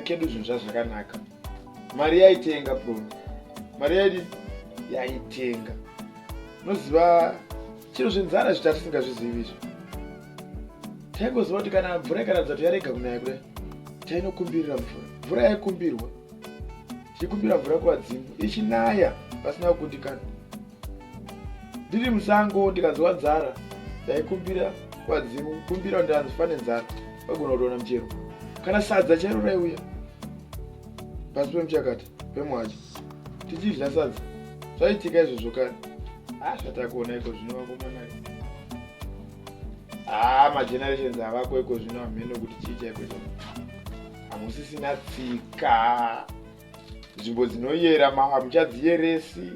kedu zvinhu zvazvakanaka mari yaitenga bron mari yaidi yaitenga unoziva chinhu zvenzara zvita tisingazvizivi izvo taingoziva kuti kana mvura ikaratidza kuti yarega kunaya kudai tainokumbirira mvura mvura yaikumbirwa chekumbira mvura kuvadzimu ichinaya pasina kukundikana ndiri musango ndikanzwa nzara ndaikumbira kuvadzimu kukumbira kuti ndiranzi fane nzara vagona kutona muchero kana sadza chairo raiuya pasi pemuchakata pemwacha tichidya sadza zvaitika izvozvo kani a ah, zvatakuona iko zvino vakomana a ah, magenerations avako iko zvino hamheno kuti chii chaiko chao hamusisina tsika nzvimbo dzinoyera hamuchadziyeresi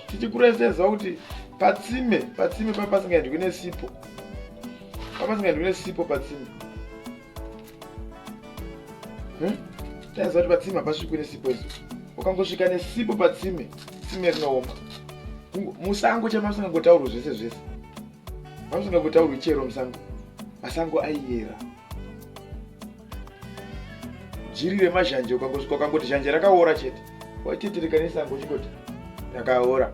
tichikureseza kuti patsime patsime pa pasingaendwi nesipo papasingaendwi nesipo patsime hm? taiziva kuti patsime hapasvikwi nesipo izo ukangosvika nesipo patsime tsime rinooma musango chamasingangotaurwa zvese zvese vamusingavutaurwi chero musango masango aiyera jiri remazhanje ukangosvika ukangoti zhanje rakaora chete waitetereka nesango uchingoti rakaora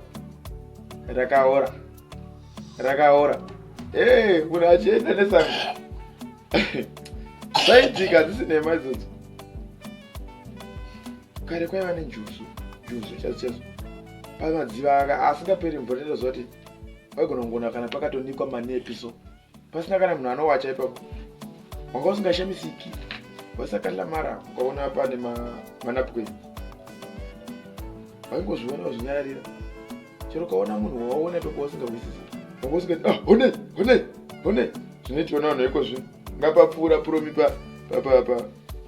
rakaora rakaora ee eh, munhu achienda nesango zaitika hadzisi nhema idzodzo kare kwaiva nenjuzu juzu chazo chazo pamadziva anga asingaperi mvura ndozooti waigona kungona kana pakatonikwa manepi so pasina kana munhu anowacha ipapo wanga usingashamisiki wasakalla mara ukaona pane manapukeni waingozviona uzvinyararira chero ukaona munhu wawaona ipapo wasingahwisisi wanga usingati ah, hone hone hone zvinoitiona vanhu iko zvino ngapapfuura puromi pa pa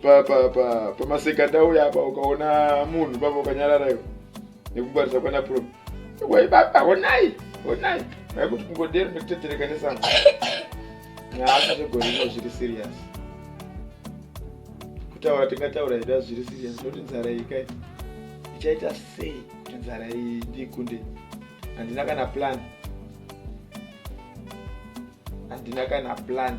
pa pa pamasekandauya apa ukaona munhu papa ukanyarara iwe nekungwarisa kwana prom wei baba honai honai vaikuti kungodero nekutedzereka nesango nyaasha zvegorino zviri serious kutaura tingataura hedu a zviri serious noti nzara iyi kai ichaita sei kuti nzara iyi ndiikunde handina kana plan handina kana plan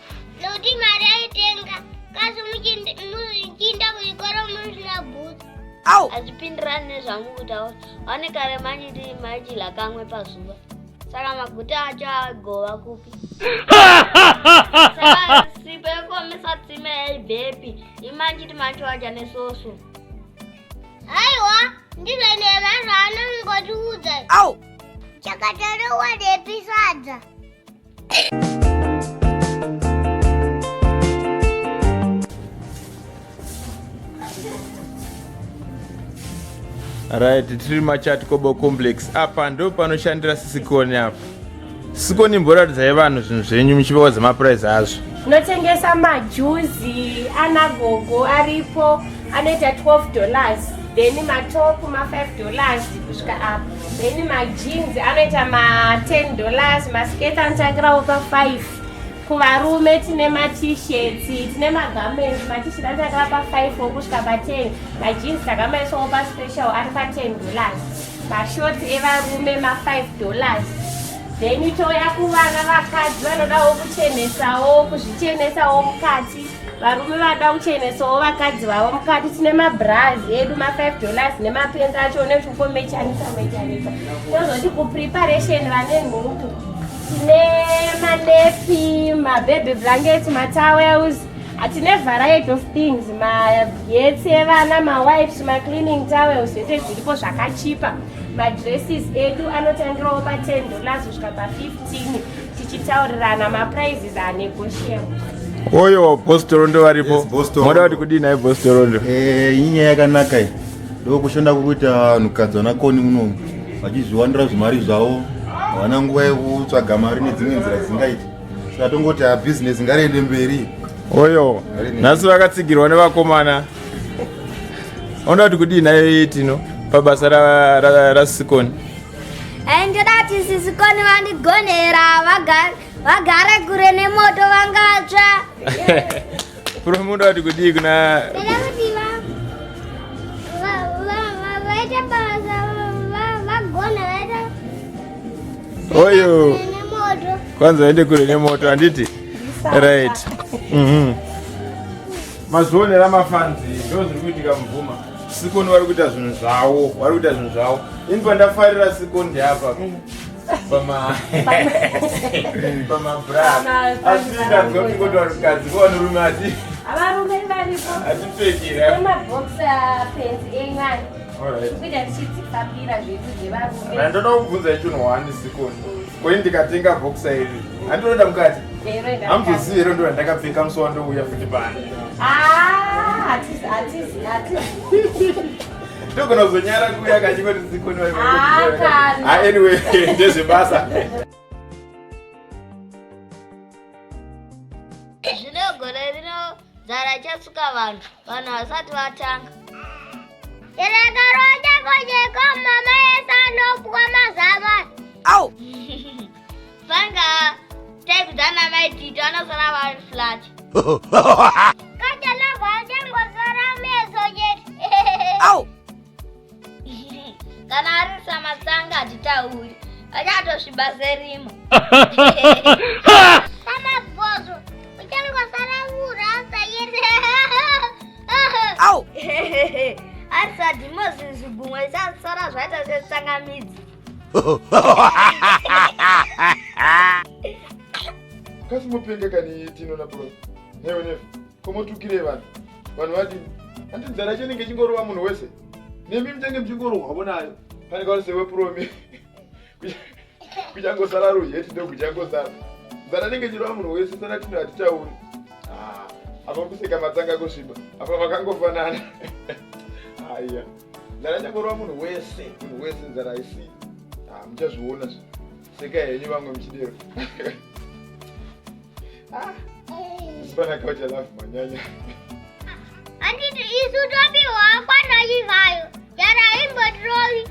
nokuti mari yaitenga kasi muchinda kuchikoro musina bhutsu au hazvipindirani nezvangu kutaura vane kare manyiti maichidya kamwe pazuva saka maguta acho agova kupi sipo yekomisa tsime yaibvepi imanjiti macho aja nesoso haiwa ndizvo nemazvaanongotiudza au chakatarowa nepisadza right tiri machat kobo complex apa ndo panoshandira sisikoni apa sikoni mboratidzai vanhu zvinhu zvenyu muchipewa dzemapurizi azvo tinotengesa majuzi ana gogo aripo anoita 12 dollars then matopu ma5 dollars kusvika apa Then ma jeans anoita ma 10 dollars, ma skirt anotangirawo pa 5. Kuvarume tine ma t-shirts, tine ma garments, ma t-shirt anotangira pa 5 wokusvika pa 10. Ma jeans takamaiswawo pa special ari pa 10 dollars. Ma shorts evarume ma 5 dollars. Then touya kuvana vakadzi vanodawo kuchenesawo, kuzvichenesawo mukati. varume vada kuchenesawo vakadzi vavo mukati tine mabras edu ma5 dollars nemapenzi acho unezvikomechanisa mechanisa tozoti kupreparation vane nhuku tine manepi mababy blankets matowels hatine variety of things magetsi evana mawipes macleaning towels zvese zviripo zvakachipa madresses edu anotangirawo pa10 dollars kusvika pa15 tichitaurirana maprizes are negotiable oyo boss torondo varipo Yes, boss Torondo. moda kuti kudii naye boss torondo Eh, inyaya yakanaka iyi ndokushanda kukuita vanhukadzi vanakoni munomu vachizviwanira zvimari zvavo havana nguva yekutsvaga mari nedzimwe nzira dzisingaiti saka tongoti ha bhizinesi ngariende mberi oyo nhasi vakatsigirwa nevakomana onoda kuti kudii naye tino pabasa ra- ra- rasikoni ndoda kuti sisi koni vandigonera vagare kure nemoto vangatsva promuda kuti kudii kuna oyo kwanza vaende kure nemoto handiti right mm -hmm. mazvionera mafanzi ndo zviri kuitika mubvuma sikoni vari kuita zvinhu zvavo vari kuita zvinhu zvavo ini pandafarira sikoni ndeapa pamabramaasindazoingotoarukadzikoanurume ati avarume varipo atipfekiraandoda kubvunza ichonowani sikoni Ko ini ndikatenga boxer iri handinoenda mukati? Hamuzozivi here ndo randakapfeka musi wandouya futi pano. Ah, atizi atizi atizi. Ndogona kuzonyara kuuya kachingoti zikoni. Ah, kana. Ah, anyway, ndezvebasa. Nzara ichasuka vanhu, vanhu vasati vatanga. Chirekaroja kojeko mama yese anopwa mazama. Au! Vanga type dzana mai Tito anosara vari flat. Kaja lagwa atengo sara meso jet. Au! kana ari samatsanga hatitauri achatosviba serima samabhozo uchangosara kurasa yese au arisadi mozinzi gumwe isasara zvaita setsanga midzi kasi mupenge kani tino na bro newe nefu komotukire vanhu vanhu vati ati nzara yacho inenge ichingorova munhu wese nemi mutenge muchingorohwavo nayo pane kauri sewepurome kuchangosara ruheti ndokuchangosara nzara inenge ichirova munhu wese sana tino hatitauri ah, apa kuseka matsanga kusviba apa vakangofanana haiya nzara ichangorova munhu wese munhu wese nzara haisii ah, muchazviona zvi Seka yenyu vamwe muchidero. Ah. Sipana kaucha love manyanya. Anditi isu topiwa kwana yivayo. Yara imbo trovi.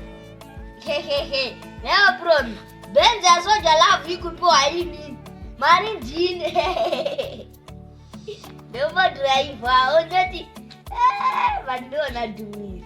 Hehehe. Never problem. Benz ya soja love ikupiwa ini. Mari ndine. Ndombo driver ondoti. Eh, vandiona dumira.